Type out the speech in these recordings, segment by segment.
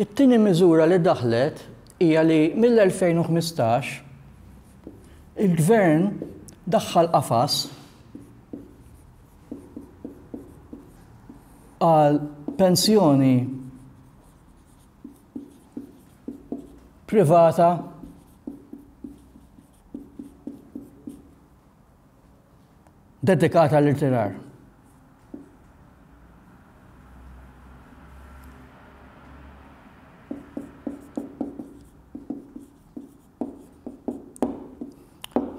It-tieni miżura li daħlet hija li mill-2015 il-gvern daħħal qafas għal pensjoni privata dedikata l-irtirar.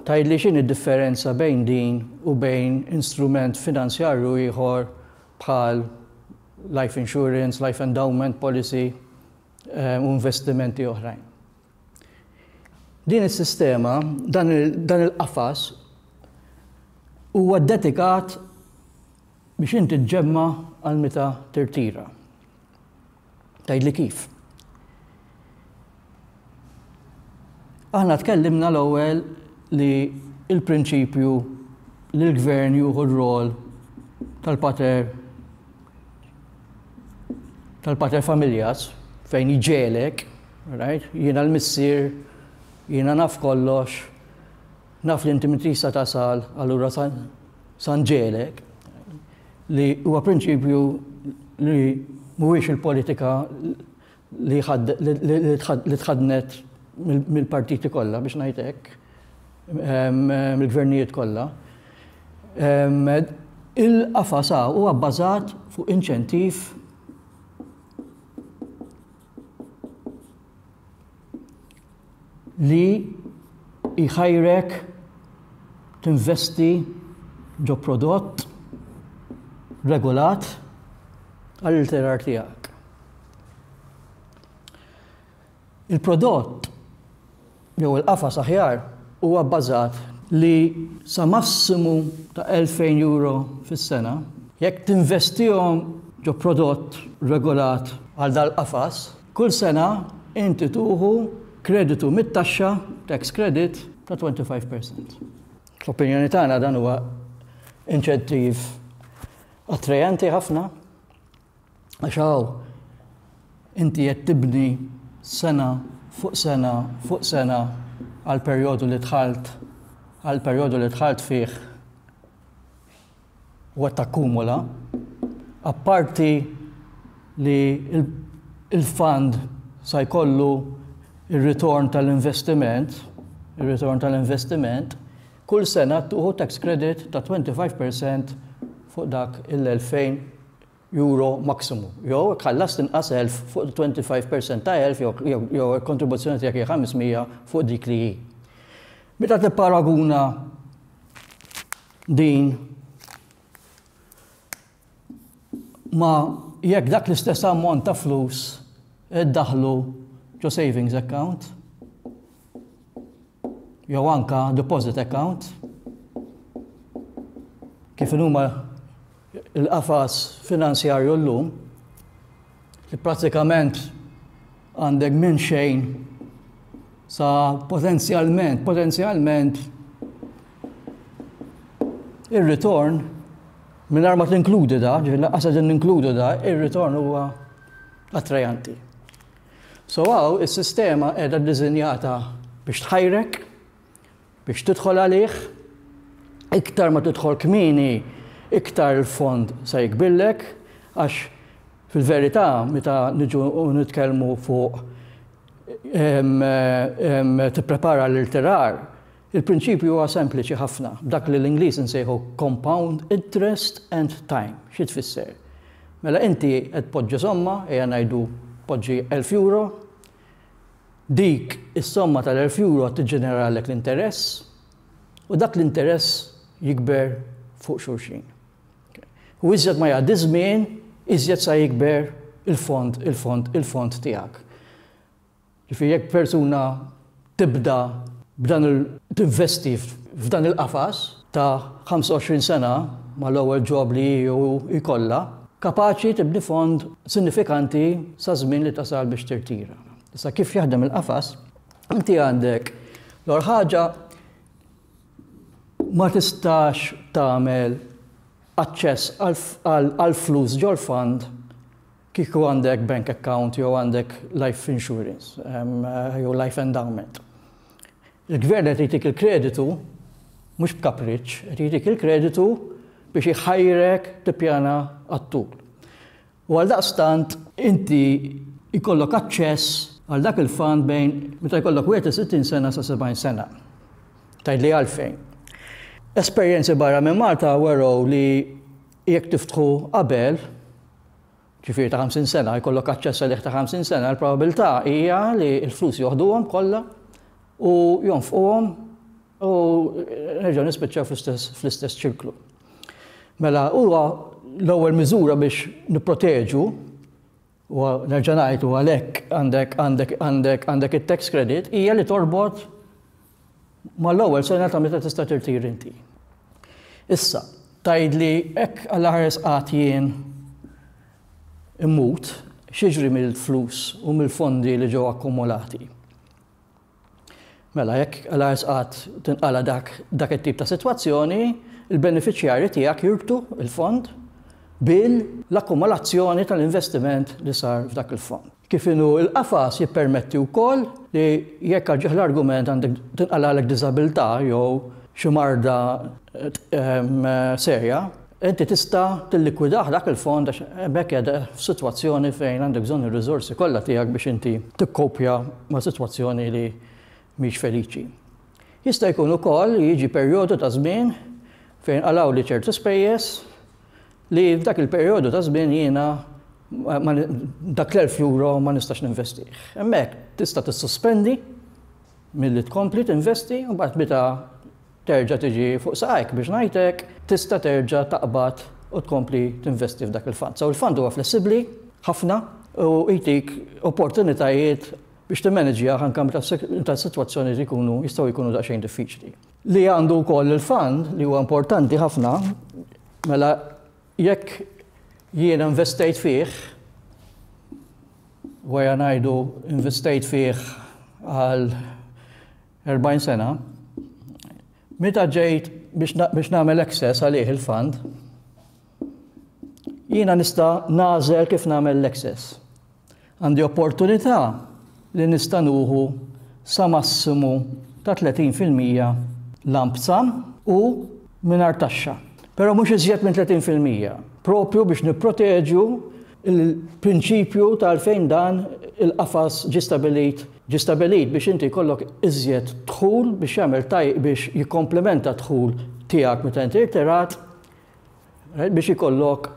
Tajd li xin id-differenza bejn din u bejn instrument finanzjarju ieħor bħal life insurance, life endowment policy u investimenti oħrajn. Din is-sistema, dan il-qafas huwa ddedikat biex inti ġġemma' għal meta tirtira. Tgħidli kif? Aħna tkellimna l-ewwel li l-prinċipju li l-gvern juhu r-rol tal-pater tal-pater familjas fejn jġelek, right? Jiena l-missier, jiena naf kollox, Naf li inti minn tista' tasal allura sa San Ġelek, li huwa prinċipju li mhuwiex il-politika li li tħaddnet mill-partiti kollha biex ngħid hekk, mill-gvernijiet kollha. Il-qafas hawn huwa bbażat fuq inċentiv li jħajrek tinvesti ġo prodott regolat għall-irtirar tiegħek. Il-prodott jew il-qafas aħjar huwa bbażat li sa massimu ta' 2000 euro fis-sena jekk tinvestihom ġo prodott regolat għal dal-qafas Kull sena inti tuħu kreditu mit-taxxa, tax credit, ta' 25 per cent. Fl-opinjoni tagħna dan huwa inċentiv attrajanti ħafna għax hawn inti qed tibni sena fuq sena fuq sena għall-perjodu li dħalt għall-perjodu li dħalt fih. u qed takkumula, apparti li l-fund sa jkollu r-ritorn tal-investiment, ir-ritorn tal-investiment, kull sena tieħu tax credit ta' 25 per cent fuq dak il-€2,000 maximu. Jew jekk ħallast inqas 1,000 fuq 25 per cent ta' 1,000 jew jekk kontribuzzjoni tiegħek hi 500 fuq dik li hi. Meta tipparaguna Din ma jekk dak l-istess ammont ta' flus iddaħlu ġo savings account jew anka deposit account kif huma Il-qafas finanzjarju llum, li prattikament għandek minn xejn sa potenzjalment, potenzjalment ir-ritorn mingħajr ma tinkludi da, ġifieri lanqas qegħdin ninkludu da, ir-ritorn huwa attrajanti. So hawn is-sistema qiegħda ddisinjata biex tħajrek Biex tidħol għalih, iktar ma tidħol kmieni iktar il-fond se jikbirlek għax fil-verità meta niġu nitkellmu fuq tipprepara l-irtirar, il-prinċipju huwa sempliċi ħafna, dak li l-Ingliż insejħu compound interest and time. Xi tfisser? Mela inti qed tpoġġi somma, ejja ngħidu tpoġġi elf euro, Dik is-somma tal-elf euro qed tiġġeneralek l-interess u dak l-interess jikber fuq xulxin. U iżjed ma jgħaddi ż-żmien, iżjed sa jikber il-fond, il-fond, il-fond tiegħek. Ġifieri jekk persuna tibda b'dan il-tinvesti f'dan il-qafas, ta' 25 sena mal-ewwel job li hi jew hu jkollha, kapaċi tibni fond sinifikanti saż-żmien li tasal biex tirtira. Issa kif jaħdem il-qafas, inti għandek l-ewwel ħaġa ma tistax tagħmel aċċess għall-flus ġol-fond Kieku għandek bank account jew għandek life insurance jew life endowment. Il-gvern qed jtik il-kreditu mhux b'kapriċċ, qed jtik il-kreditu biex iħajrek tippjana għat-tul. U għal daqstant inti jkollok aċċess għal dak il-fond bejn meta jkollok 60 sena sa 70 sena. Tajd li għalfejn. Esperjenzi barra minn Malta weraw li jekk tiftħu qabel ġifieri ta' 50 sena, jkollok aċċess għalih ta' 50 sena, il-probabilità hija li l-flus joħduhom kollha u jonfquhom u nerġgħu nispiċċaw fl-istess ċirklu. Mela huwa l-ewwel miżura biex nipproteġu u nerġa' ngħid u għalhekk għandek għandek għandek għandek it-tax credit hija li torbot mal-ewwel sena ta' meta tista' tirtiri inti. Issa, tgħidli hekk għal ħares qatt jien immut xiġri mill-flus u mill-fondi li ġew akkumulati. Mela, jekk għal ħares qatt tinqala dak dak it-tip ta' sitwazzjoni, il-beneficjari tiegħek jirbtu il-fond bil-akkumulazzjoni tal-investiment li sar f'dak il-fond. Kif inhu l-qafas jippermetti wkoll li jekk għal ġieħ l-argument għandek tinqalagħlek diżabilità jew xi marda serja, inti tista' tillikwidah dak il-fond għax b'hekk qiegħda f'sitwazzjoni fejn għandek bżonn ir-riżorsi kollha tiegħek biex inti tikkopja ma' sitwazzjoni li mhix feliċi. Jista' jkun ukoll li jiġi perjodu ta' żmien fejn jinqalgħuli ċertu spejjeż Li f'dak il-perjodu ta' żmien jiena dak l-elf euro ma nistax ninvestih. Hemmhekk tista' tissospendi milli tkompli tinvesti u mbagħad meta terġa' tiġi fuq saqajk biex ngħid hekk, tista' terġa' taqbad u tkompli tinvesti f'dak il-fund. So il-fund huwa flessibbli ħafna u jtik opportunitajiet biex timmaniġjah anke meta s-sitwazzjonijiet ikunu jistgħu jkunu daqsxejn diffiċli. li għandu wkoll il-fan li huwa importanti ħafna, mela jekk jiena investejt fih, wara ngħidu investejt fih għal 40 sena, meta ġejt biex nagħmel access għalih il-fund, Jiena nista' nagħżel kif nagħmel l-excess. Għandi opportunità li nista' nuħu sa massimu ta' 30 fil-mija lump sum u mingħajr taxxa. Però mhux iżjed minn 30 fil-mija, proprju biex nipproteġu l-prinċipju ta' għalfejn dan il-qafas ġie stabbilit ġie stabbilit biex inti jkollok iżjed dħul biex jagħmel biex jikkomplementa d-dħul tiegħek meta inti rtirat eh, biex ikollok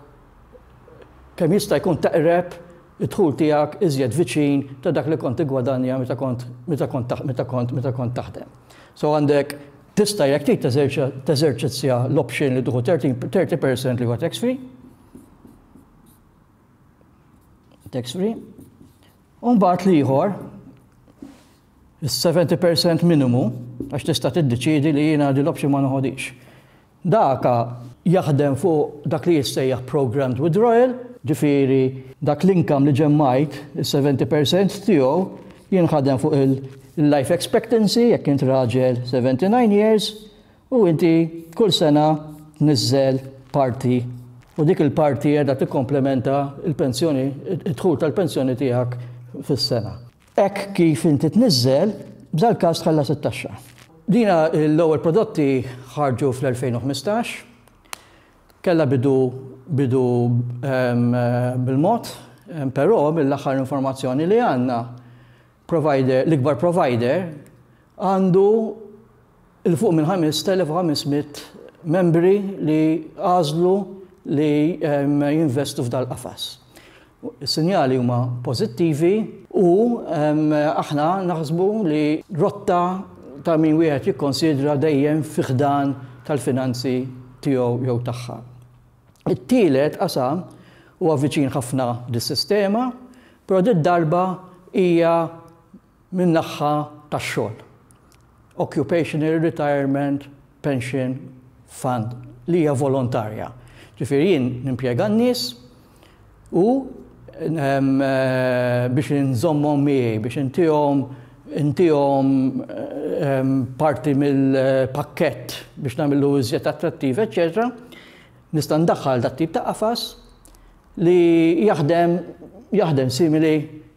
kemm jista' jkun taqreb id-dħul tiegħek iżjed viċin ta' dak li kont igwadanja meta kont meta kont meta kont meta kont taħdem. So għandek tista' jekk trid teżerċizzja l-option li tuħu 30% li huwa tax free. Tax free. U mbagħad li ieħor is-70% minimu għax tista' tiddeċiedi li jiena din l-option ma noħodix. Daka jaħdem fuq dak li jissejjaħ programmed withdrawal, ġifieri dak l-income li ġemmajt, is-seventy per cent tiegħu, jinħadem fuq il-life expectancy, jekk int raġel seventy nine years, u inti kull sena tniżżel parti u dik il-parti qiegħda tikkomplementa l-pensjoni, id-dħul tal-pensjoni tiegħek fis-sena. Hekk kif inti tniżżel, b'dal-każ tħallas it-taxxa. Din l-ewwel prodotti ħarġu fl-2015. Kellha bidu bidu bil-mod, però mill-aħħar informazzjoni li għandna, provider l-ikbar provider għandu 'l fuq minn 5,500 membri li għażlu li jinvestu f'dal-qafas. Is-sinjali huma pożittivi u aħna naħsbu li rotta ta' min wieħed jikkonsidra dejjem fi ħdan tal-finanzi tiegħu jew tagħha. It-tielet qasam huwa viċin ħafna lis-sistema, però did-darba hija min-naħħa tax-xogħol, Occupational Retirement Pension Fund, li hija volontarja. Ġifieri jien nimpjega n-nies u biex inżommhom miegħi, biex intihom intihom parti mill-pakkett biex nagħmlu iżjed attrattiv, eċċetera, nista' ndaħħal dat-tip ta' qafas Li jaħdem, jaħdem simili,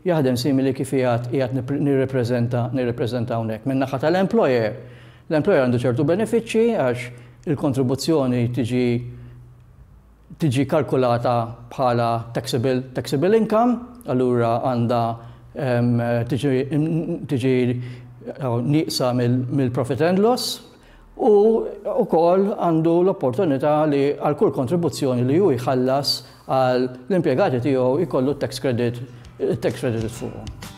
jaħdem simili kif qiegħed, qiegħed nirrepreżenta, nirrepreżenta hawnhekk. Min-naħa tal-employer, l-employer għandu ċertu benefiċċji għax il-kontribuzzjoni tiġi tiġi kalkulata bħala taxable, taxable income, allura għandha tiġi nieqsa mill-profit and loss, u wkoll għandu l-opportunità li għal kull kontribuzzjoni li hu jħallas għal l-impjegati tiegħu jkollu t-tax credit tax credit fuqhom.